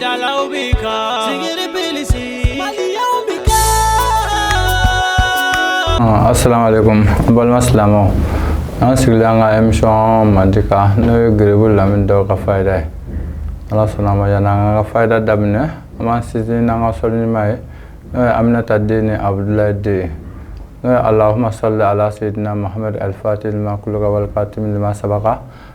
dalaw bɛ kan sigiri bilisi maliyaw bɛ kan. asalaamualeykum n balima silamɛw an sigilen an ka emisɔn mandi kan n'o ye gerebu lamini daw ka fayida ye ala sɔnna a ma yanni an ka fayida daminɛ an b'an sinsin n'an ka sɔli ɲuman ye n'o ye aminata den ni abudulayi den ye n'o ye alahuma sali ala seyidina mahamadu alifati lima kuloka walikatimi lima sabaka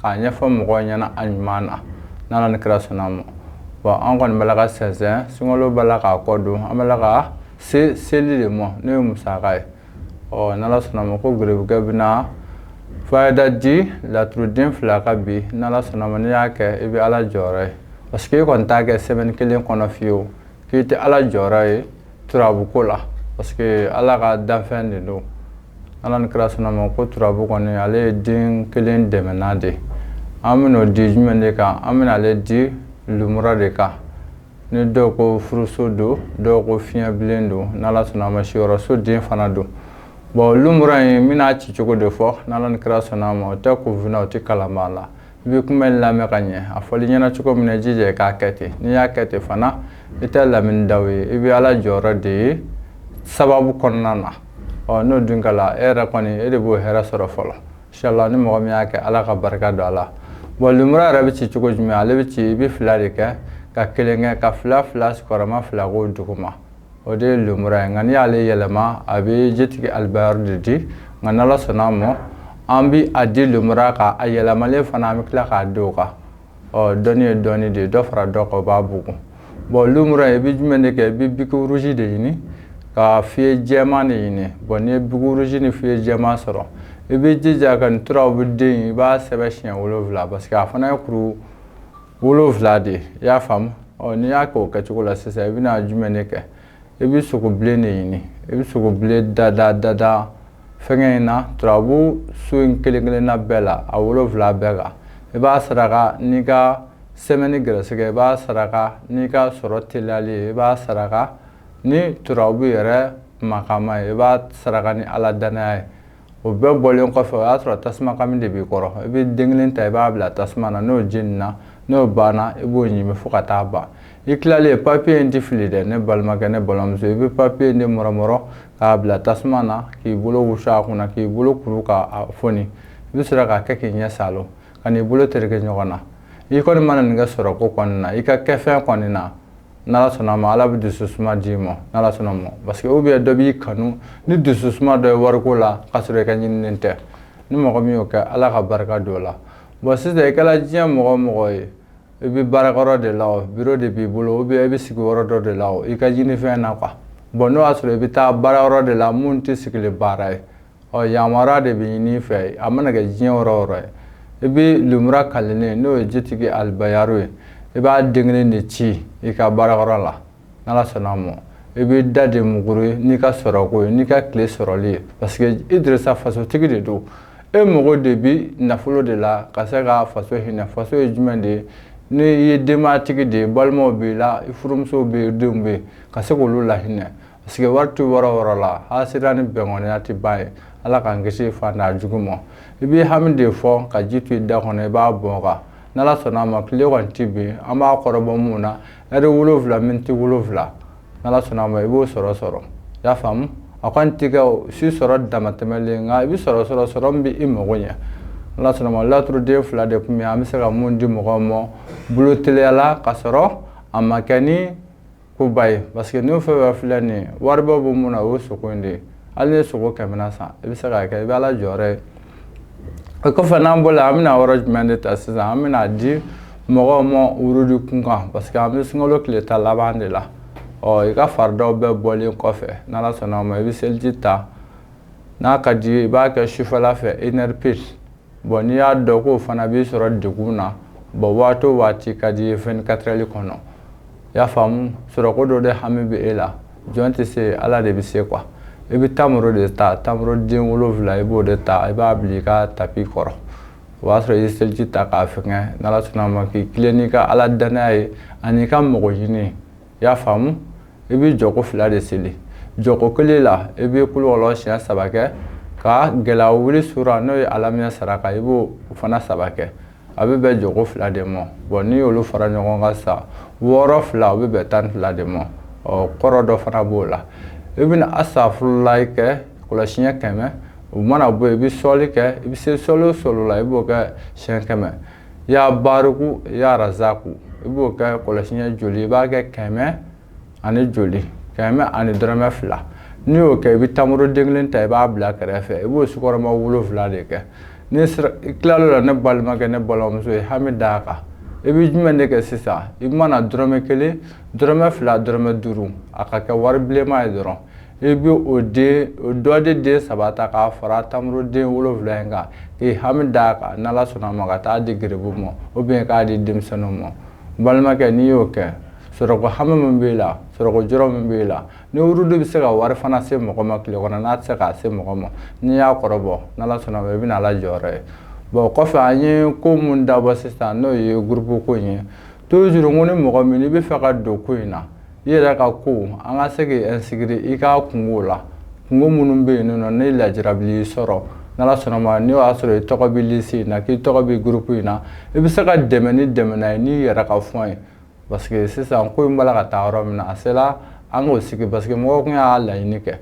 k'a ɲɛfɔ mɔgɔw ɲɛna a ɲuman na n'ala ni kira sɔnna ma bɔn an kɔni b'a la ka sɛnsɛn sunkalo b'a la k'a kɔ don an b'a la ka se seli de ma n'o ye musaka ye ɔ n'ala sɔnna ma ko gerebukɛ bɛna fayida di laturuden fila kan bi n'ala sɔnna ma n'i y'a kɛ i bɛ ala jɔyɔrɔ ye parce que i kɔni t'a kɛ sɛmɛni kelen kɔnɔ fiyewu k'i tɛ ala jɔyɔrɔ ye turabu ko la parce que ala ka danfɛn de don ala ni kira sɔnna ma ko turabu kɔni ale ye den kelen dɛmɛnna de an bɛn'o di jumɛn de kan an bɛna ale di lumura de kan ni dɔw ko furuso don dɔw ko fiɲɛ bilen don n'ala sɔnna a ma siyɔrɔso den fana don bɔn lumura in n bɛna ci cogo de fɔ n'ala ni kira sɔnna a ma o tɛ kunfinna o tɛ kalanbaa la i bɛ kuma in lamɛn ka ɲɛ a fɔli ɲɛna cogo min na i jija i k'a kɛ ten n'i y'a kɛ ten fana i tɛ lamini daw ye i bɛ ala jɔyɔrɔ de ye sababu kɔnɔna na ɔ n'o dun kɛla e yɛrɛ kɔni e de b'o hɛrɛ sɔrɔ fɔlɔ inshallah ni mɔgɔ min y'a kɛ ala ka barika don a la bɔn lumura yɛrɛ bɛ ci cogo jumɛn ale bɛ ci i bɛ fila de kɛ ka kelen kɛ ka fila fila sigiyɔrɔma fila k'o duguma o de ye lumura ye nka n'i y'ale yɛlɛma a bɛ jitigi alibayari de di nka n'ala sɔnna a ma an bɛ a di lumura kan a yɛlɛmalen fana an bɛ tila k'a di o kan ɔ dɔnni ye dɔnni de ye dɔ fara dɔ kan o b'a bugun bɔn lumura ye i bɛ jumɛn de kɛ i bɛ biki rouge de ɲini ka feuille jɛman de ɲini bɔn n'i ye biki rouge ni feuille jɛman sɔrɔ i b'i jija ka nin turabu den i b'a sɛbɛn siɲɛ wolonwula parce que a fana ye kuru wolonwula de ye i y'a faamu ɔ n'i y'a kɛ o kɛcogo la sisan i bɛna jumɛn de kɛ i bɛ sogo bilen de ɲini i bɛ sogo bilen dada dada fɛngɛ in na turabu so in kelen kelenna bɛɛ la a wolonwula bɛɛ kan i b'a saraka n'i ka sɛmɛni gɛrɛsɛgɛ i b'a saraka n'i ka sɔrɔ teliyali ye i b'a saraka ni turabu yɛrɛ makama ye i b'a saraka ni ala danaya ye o bɛɛ bɔlen kɔfɛ o y'a sɔrɔ tasuma kami de b'i kɔrɔ i bɛ den kelen ta i b'a bila tasuma na n'o jenina n'o banna i b'o ɲimi fo ka taa ban i tilalen papiye in tɛ fili dɛ ne balimakɛ ne balimamuso i bɛ papiye in de mɔrɔmɔrɔ k'a bila tasuma na k'i bolo wusu a kunna k'i bolo kuru k'a foni i bɛ sɔrɔ k'a kɛ k'i ɲɛ saalo kan'i bolo tereke ɲɔgɔn na i kɔni mana nin kɛ sɔrɔko kɔni na i ka kɛfɛn kɔni na n'ala sɔnna ma ala bɛ dususuma d'i ma n'ala sɔnna ma parce que ou bien dɔ b'i kanu ni dususuma dɔ ye wariko la k'a sɔrɔ i ka ɲininen tɛ ni mɔgɔ min y'o kɛ ala ka barika don o la bon sisan i kɛra diɲɛ mɔgɔ o mɔgɔ ye i bɛ baarakɛyɔrɔ de la o biro de b'i bolo ou bien i bɛ sigi yɔrɔ dɔ de la o i ka ɲinifɛn na quoi bon n'o y'a sɔrɔ i bɛ taa baara yɔrɔ de la min tɛ sigili baara ye ɔ yamaruya de bɛ ɲini i fɛ a mana kɛ diɲɛ yɔrɔ o yɔrɔ ye i bɛ lemuru kalennen n'o ye jitigi alibayaro ye i b'a den kelen de ci i ka baarakɛyɔrɔ la n'ala sɔnna a ma i bɛ da de muguru ye n'i ka sɔrɔko ye n'i ka tile sɔrɔli ye parce que idirisa fasotigi de don e mago de bi nafolo de la ka se ka faso hinɛ faso ye jumɛn de ye ni i ye denbayatigi de ye balimaw b'i la i furumusow bɛ yen denw bɛ yen ka se k'olu lahinɛ Parce que wari tɛ yɔrɔ o yɔrɔ la hasira ni bɛnɔnya tɛ ban yen ala k'an kisi fada jugu ma i b'i hami de fɔ ka ji to i da kɔnɔ i b'a bɔn a kan n'ala sɔnna a ma tile kɔni tɛ bin an b'a kɔrɔbɔ minnu na ɛri wolowula miniti wolowula n'ala sɔnna a ma i b'o sɔrɔ sɔrɔ i y'a faamumu a kɔni tɛ se sɔrɔ damatɛmɛlen nka i bɛ sɔrɔ sɔrɔ sɔrɔ min bɛ i mago ɲɛ n'ala sɔnna ma laturuden fila de tun bɛ an bɛ se ka mun di mɔgɔw ma bolo teliya la k'a sɔrɔ a ma kɛ ni koba ye parce que n'o fɛn fɛn filɛ nin ye wariba bɔ mun na o ye sogo in de ye hali ni sogo kɛmɛ na san i bɛ se k'a kɛ i bɛ ala jɔyɔrɔ ye o kɔfɛ n'an bɔra an bɛna yɔrɔ jumɛn de ta sisan an bɛna di mɔgɔw ma wurudi kun kan parce que an bɛ sunkalo tile tan laban de la ɔ i ka faridaw bɛɛ bɔlen kɔfɛ n'ala sɔnna ma i bɛ seliji ta n'a ka di i ye i b'a kɛ sufɛla fɛ une heure pile bon n'i y'a dɔn k'o fana b'i sɔrɔ degun na bon waati o waati ka di i ye vingt-quatre heures kɔnɔ i y'a faamumu sɔrɔko dɔ de hami bɛ e la jɔn tɛ se ala de bɛ se quoi i bɛ tamaro de ta tamaro den wolowula i b'o de ta i b'a bila i ka tapi kɔrɔ o y'a sɔrɔ i ye seliji ta k'a fɛngɛ n'ala sɔnna ma k'i tilen n'i ka ala dannaya ye ani ka mɔgɔ ɲini i y'a faamu i bɛ jɔko fila de seli jɔko kelen la i bɛ kulu kɔlɔsiɲɛ saba kɛ ka gɛlɛya wuli sura n'o ye alami nasaraka i b'o fana saba kɛ a bɛ bɛn jɔko fila de ma bon n'i y'olu fara ɲɔgɔn kan sa wɔɔrɔ fila o bɛ bɛn tan fila de ma ɔ kɔrɔ dɔ fana b'o la i bɛna asafurulayi kɛ kɔlɔsiɲɛ kɛmɛ o mana bɔ i bɛ sɔli kɛ i bɛ se sɔli o sɔli la i b'o kɛ siɲɛ kɛmɛ ya bariku ya razaku i b'o kɛ kɔlɔsi ɲɛ joli i b'a kɛ kɛmɛ ani joli kɛmɛ ani dɔrɔmɛ fila n'i y'o kɛ i bɛ tamaro den kelen ta i b'a bila kɛrɛfɛ i b'o sukɔrɔma wolonfila de kɛ n'i tilal'o la ne balimakɛ ne balimamuso i ye hami d'a kan i bɛ jumɛn de kɛ sisan i mana dɔrɔmɛ kelen dɔrɔmɛ fila dɔrɔmɛ duuru a ka kɛ wari bilenma ye dɔrɔn i bɛ o den o dɔ de den saba ta k'a fara tamaroden wolonwula in kan k'i hami d'a kan n'ala sɔnna a ma ka taa di garibu ma ou bien k'a di denmisɛnninw ma balimakɛ n'i y'o kɛ sɔrɔko hami min b'i la sɔrɔko jɔrɔ min b'i la ni wurudu bɛ se ka wari fana se mɔgɔ ma tile kɔnɔ n'a tɛ se k'a se mɔgɔ ma n'i y'a kɔrɔbɔ n'ala sɔnna ma i bɛna ala jɔyɔrɔ ye bɔn kɔfɛ an ye ko mun dabɔ sisan n'o ye gurupu ko in ye tuzuru ko ni mɔgɔ min i b'a fɛ ka don ko in na i yɛrɛ ka ko an ka se k'i inscrire i ka kunko la kunko minnu bɛ yen nɔ ni lajarabi y'i sɔrɔ n'ala sɔnna ma n'o y'a sɔrɔ i tɔgɔ bɛ liste in na k'i tɔgɔ bɛ groupe in na i bɛ se ka dɛmɛ ni dɛmɛna ye n'i yɛrɛ ka fɔn ye parce que sisan ko in b'a la ka taa yɔrɔ min na a sela an k'o sigi parce que mɔgɔw tun y'a laɲini kɛ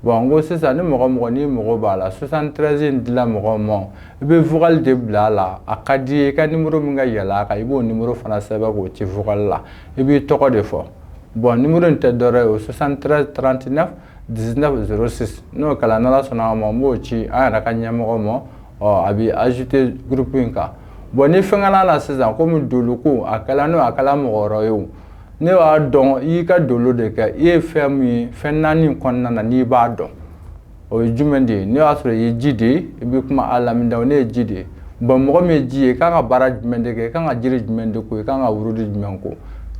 bon n ko sisan ni mɔgɔ mɔgɔ n'i mago b'a la 73 in dila mɔgɔw ma i bɛ vocal de bila a la a ka di i ye i ka nimoro min ka yɛlɛ a kan i b'o nimoro fana sɛbɛn k'o ci vocal la i b'i tɔgɔ de fɔ bon nimoro in tɛ dɔwɛrɛ ye o 73 39 19 06 n'o kɛra n'ala sɔnna a ma n b'o ci an yɛrɛ ka ɲɛmɔgɔ ma ɔ a bɛ ajouter groupe in kan bon ni fɛnkɛ la la sisan komi dolo ko a kɛla n'o a kɛla mɔgɔ wɛrɛ ye o ne b'a dɔn i y'i ka dolo de kɛ i ye fɛn min ye fɛn naani kɔnɔna na n'i b'a dɔn o ye jumɛn de ye n'o y'a sɔrɔ i ye ji de ye i bɛ kuma a lamida ne ye ji de ye bɔn mɔgɔ min ye ji ye i kan ka baara jumɛn de kɛ i kan ka jiri jumɛn de ko i kan ka wurudi jumɛn ko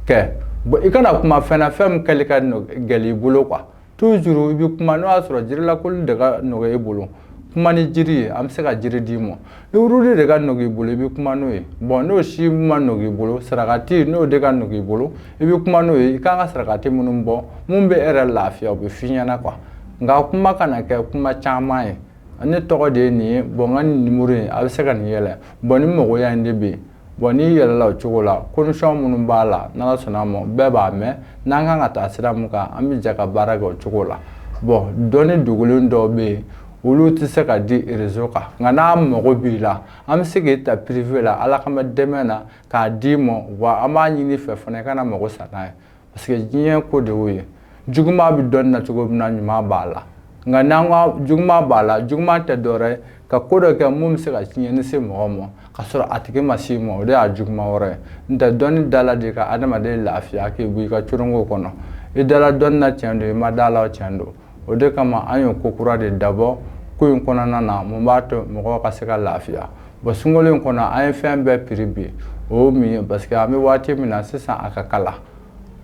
kɛ bɔn i kana kuma fɛn na fɛn min kɛli ka gɛlɛn i bolo kuwa tuzuru i bɛ kuma n'o y'a sɔrɔ jirilakoli de ka nɔgɔ i bolo kuma ni jiri ye an bɛ se ka jiri d'i ma ni wurudi de ka nɔgɔ i bolo i bɛ kuma n'o ye bɔn n'o si ma nɔgɔ i bolo sarakati n'o de ka nɔgɔ i bolo i bɛ kuma n'o ye i kan ka sarakati minnu bɔ mun bɛ e yɛrɛ lafiya o bɛ f'i ɲɛna kuwa nka kuma kana kɛ kuma caman ye ne tɔgɔ de ye nin ye bɔn n ka nin nimoro in a bɛ se ka nin yɛlɛ bɔn ni mɔgɔya in de bɛ yen Bon n'i yɛlɛla o cogo la condition minnu b'a la n'ala sɔnna ma bɛɛ b'a mɛn n'an kan ka taa sira min kan an bɛ jɛ ka baara kɛ o cogo la bɔn dɔnni dogolen dɔ bɛ yen olu tɛ se ka di réseau kan nka n'a mago b'i la an bɛ se k'i ta privé la ala kama dɛmɛ na k'a d'i ma wa an b'a ɲini i fɛ fana i kana mago sa n'a ye parce que diɲɛ ko de y'o ye juguman bɛ dɔnni na cogo min na ɲuman b'a la nka n'an ko juguman b'a la juguman tɛ dɔwɛrɛ ye ka ko dɔ kɛ mun bɛ se ka tiɲɛni se mɔgɔ ma ka sɔrɔ a tigi ma s'i ma o de y'a juguman wɛrɛ ye n'o tɛ dɔnni dala de ka adamaden lafiya k'i bɔ i ka coronko kɔnɔ i dala dɔnni na tiɲɛ don i ma dala tiɲɛ don o de kama an ye ko kura de dabɔ ko in kɔnɔna na mun b'a to mɔgɔw ka se ka lafiya bon sunkalo in kɔnɔ an ye fɛn bɛɛ piri bin o ye mun ye parce que an bɛ waati min na sisan a ka kalan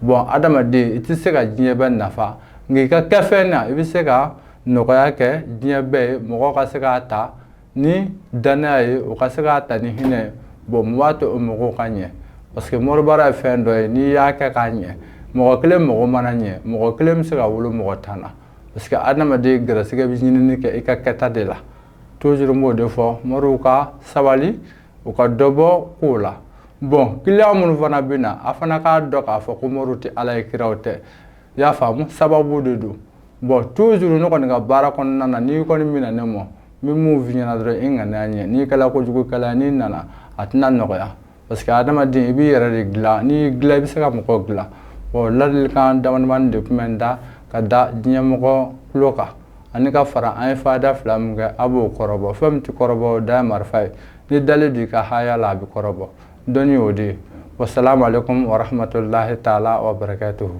bɔn adamaden i tɛ se ka diɲɛ bɛɛ nafa nka i ka kɛfɛn na i bɛ se ka nɔgɔya kɛ diɲɛ bɛɛ ye mɔgɔ ka se k'a ta ni danaya ye u ka se k'a ta ni hinɛ ye bon mun b'a to o magow ka ɲɛ parce que moribaara ye fɛn dɔ ye n'i y'a kɛ k'a ɲɛ mɔgɔ kelen mago mana ɲɛ mɔgɔ kelen bɛ se ka wolo mɔgɔ tan na parce que adamaden gɛrɛsɛgɛ bɛ ɲinini kɛ i ka kɛta de la toujours n b'o de fɔ moriw ka sabali u ka dɔ bɔ kow la bon client minnu fana bɛ na a fana k'a dɔn k'a fɔ ko moriw tɛ ala ye kiraw tɛ i y'a faamu sababu de don bon toujours ne kɔni ka baara kɔnɔna na n'i kɔni bɛ na ne ma n bɛ min f'i ɲɛna dɔrɔn i ŋaniya ɲɛ n'i kɛla kojugukɛla n'i nana a tɛna nɔgɔya parce que adamaden i b'i yɛrɛ de dilan n'i y'i dilan i bɛ se ka mɔgɔw dilan bon ladilikan damadamani de tun bɛ n da k'a da diɲɛmɔgɔ tulo kan ani ka fara an ye fayida fila min kɛ a b'o kɔrɔbɔ fɛn min tɛ kɔrɔbɔ o de ye marifa ye n'i dalen don i ka haya la a bɛ kɔrɔbɔ dɔnni y'o de ye wasalamu aleykum warahmatulahi taala wa barakatuhu